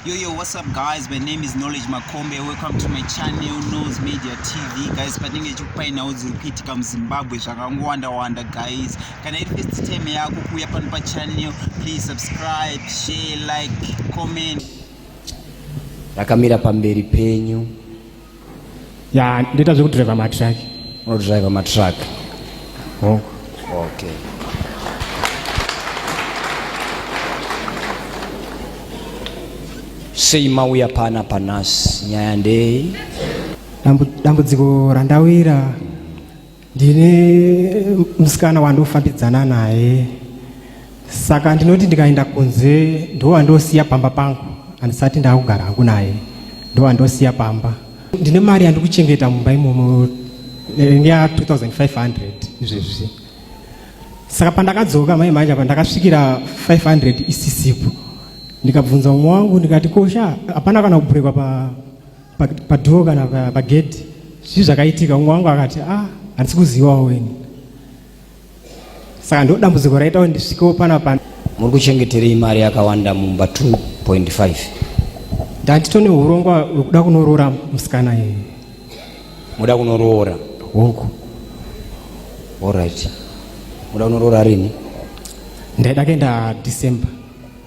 Yo, yo, what's up guys? My name is Knowledge Makombe. Welcome to my channel, Nose Media TV. Guys, patinenge chikupai nhau dziri kuitika muZimbabwe zvakangowanda-wanda guys. Kana iri first time yako kuuya pano pachannel, please subscribe, share, like, comment. Rakamira pamberi penyu. ya ndoita zvekudriver matruck unodriver matruck oh. okay sei mauya pana panhasi nyaya ndei dambudziko randawira ndine musikana wandofambidzana naye saka ndinoti ndikaenda kunze ndowandosiya pamba pangu handisati ndakugara hangu naye ndowandosiya pamba ndine mari yandikuchengeta mumba imomo neya 2500 izvezvi saka pandakadzoka mai manja pandakasvikira 500 isisipo ndikabvunza umwe wangu ndikati kosha hapana kana kuburekwa pa padhoo kana pagedhi zvii zvakaitika umwe wangu akati ah handisi kuzivawo weni saka ndo dambudziko raitawo ndisvikewo pana pana muri kuchengeterei mari yakawanda mumba 2.5 ndatito neurongwa wekuda kunoroora musikana iye muda kunoroora hongu allright muda kunoroora rini ndaida kuenda december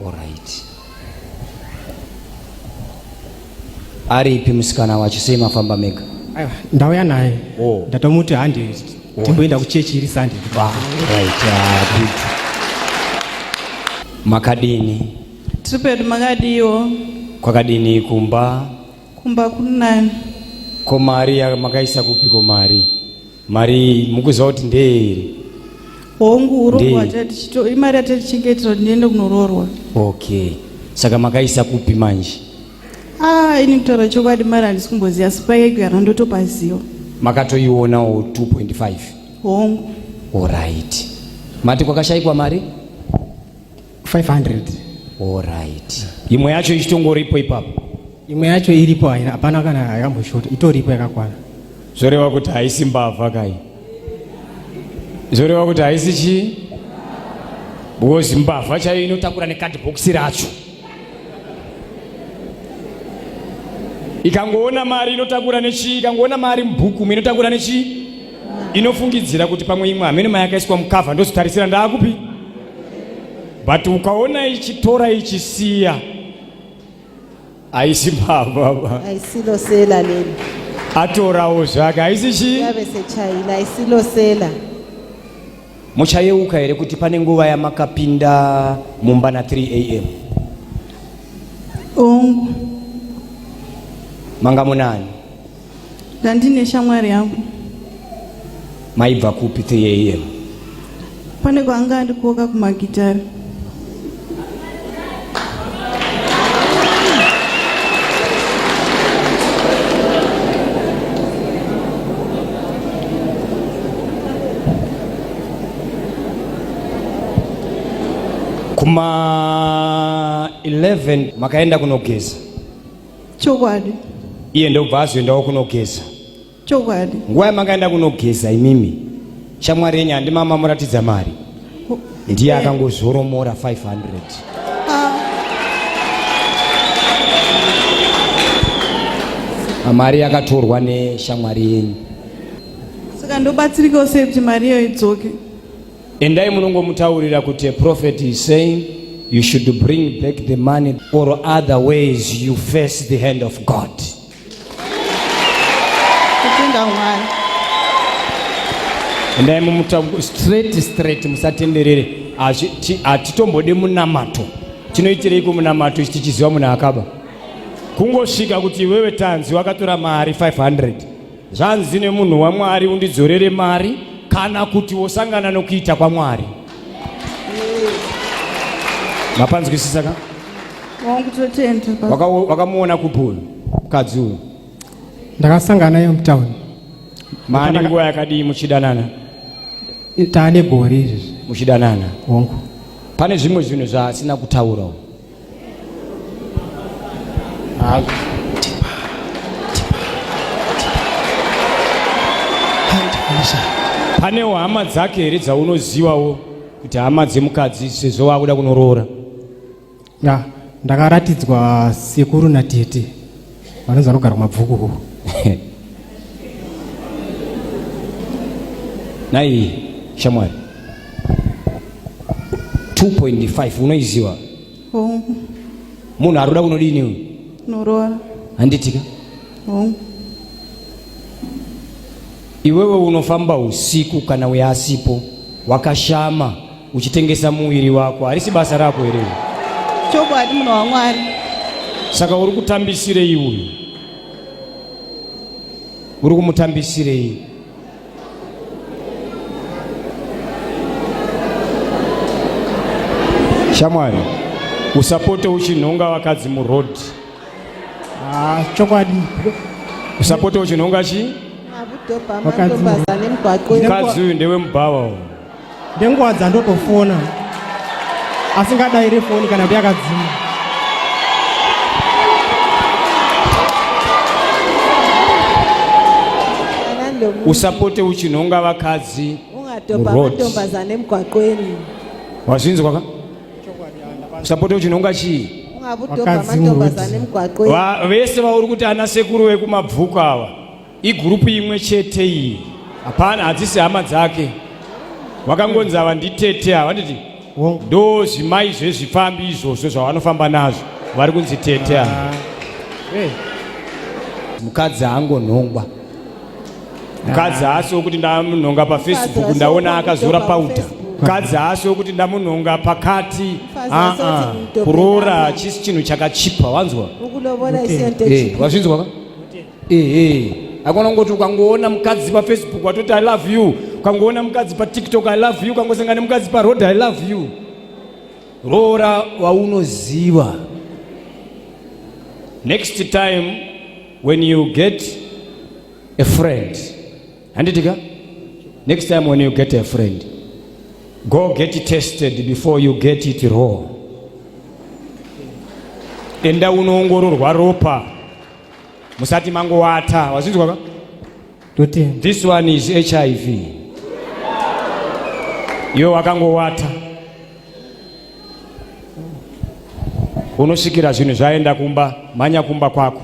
Alright. Aripi musikana wacho sei mafamba mega? Aiwa, ndauya naye. Oh. Ndatomuti handi timboenda kuchechi iri Sunday. Ah, right. Ah, good. Makadini? Tiri pedu makadiwo. Kwakadini kumba? Kumba kunani. Ko mari ya- makaisa kupi ko mari? mari mukuziva kuti ndeye here hongu urombwa imari yatatichengetera kuti ndiende kunoroorwa okay saka makaisa kupi manje ah ini kutaura chokwadi mari handisi kumboziva sipake kuyana ndotopaziva makatoionawo 2.5 hongu orit mati kwakashaikwa mari 500 alright imwe yacho ichitongoripo ipapo imwe yacho iripo haina hapana kana yakamboshota itoripo yakakwana zvoreva kuti haisi mbavha kai zvoreva kuti haisi chii because mbavha chaiyo inotakura nekadhibhokisi racho ikangoona mari inotakura nechii ikangoona mari mubhukumu inotakura nechii inofungidzira kuti pamwe imwe hameno mayakaiswa mukavha ndozotarisira ndaakupi but ukaona ichitora ichisiya haisi baba aisilosela leli atorawo zvake haisi chii yave sechaina aisilosela muchayeuka here kuti pane nguva yamakapinda mumba na 3 am ongu manga munani Ndandine shamwari yangu. Maibva kupi 3 am? Pane kwaanga andikoka kumagitari. Kuma 11 makaenda kunogeza. chokwadi iye ndobva azoendawo kunogeza chokwadi nguva yamakaenda kunogeza imimi shamwari yenyu handi mama muratidza mari ndiye akangozoromora 500 ah. ah, mari yakatorwa neshamwari yenyu saka ndobatsirikawo sei kuti mari iyo idzoke Endai munongomutaurira kuti a prophet is saying you should bring back the money or other ways you face the hand of God. Kutenda Mwari. Endai mumutaurira straight straight musatenderere. Hatitombode munamato. Tinoitirei kumunamato ichi tichiziva munhu akaba. Kungosvika kuti wewe tanzi wakatora mari 500. Zvanzi nemunhu waMwari, undidzorere mari kana kuti wosangana nokuita kwaMwari. Mapanzwisisa ka? Wakamuona kupi uyu mukadzi uyu? Ndakasangana naye mutown. Maane nguva yakadii muchidanana? Taane gore izvi. Muchidanana? Hongu. Pane zvimwe zvinhu zvaasina kutaura uyu. panewo hama dzake here dzaunozivawo kuti hama dzemukadzi sezvo waakuda kunoroora ndakaratidzwa sekuru natete vanonzi vanogara mabvuku nai shamwari 2.5 unoiziva oh. munhu aruda kunodini uyu noroora handitika oh. iwewe unofamba usiku kana uye asipo wakashama uchitengesa muviri wako harisi basa rako here chokwadi munhu wamwari saka uri kutambisirei uyu uri kumutambisirei shamwari usapote uchinhonga vakadzi muroad ah, chokwadi usapote uchinhonga chi ah, mukadzi uyu ndewemubhawa uyu ndenguva dzandotofona asingadaire foni kana kuti yakadzima usapote uchinhonga vakadzi ungatombazane mugwaqweni wazvinzwa ka usapote uchinhonga chii vese vauri kuti ana sekuru vekumabvuku ava Igurupu imwe chete iyi. Hapana hadzisi hama dzake. Wakangonzi ava nditete ava nditi ndo zvimai zvezvifambi izvozvo zvavanofamba nazvo vari kunzi tete ava. Ah. Eh. Mukadzi angonhongwa. Mukadzi haasi wekuti ndamunhonga paFacebook ndaona akazora powder. Mukadzi haasi wekuti ndamunhonga pakati. Ah, ah. Kuroora chisi chinhu chakachipa wanzwa? Eh, wazvinzwa ka? ehe akona kungoti ukangoona mukadzi pafacebook watoti i love you ukangoona mukadzi patiktok i love you ukangosangana nemukadzi paroad i love you roora waunoziva next time when you get a friend handitika next time when you get a friend go get it tested before you get it raw enda unoongororwa ropa musati mangowata wazvinzwa ka Totenda. this one is hiv iwe wakangowata unosvikira zvinhu zvaenda kumba mhanya kumba kwako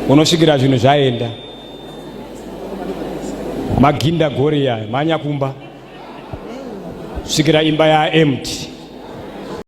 unosvikira zvinhu zvaenda maginda goriya mhanya kumba svikira imba yaempty.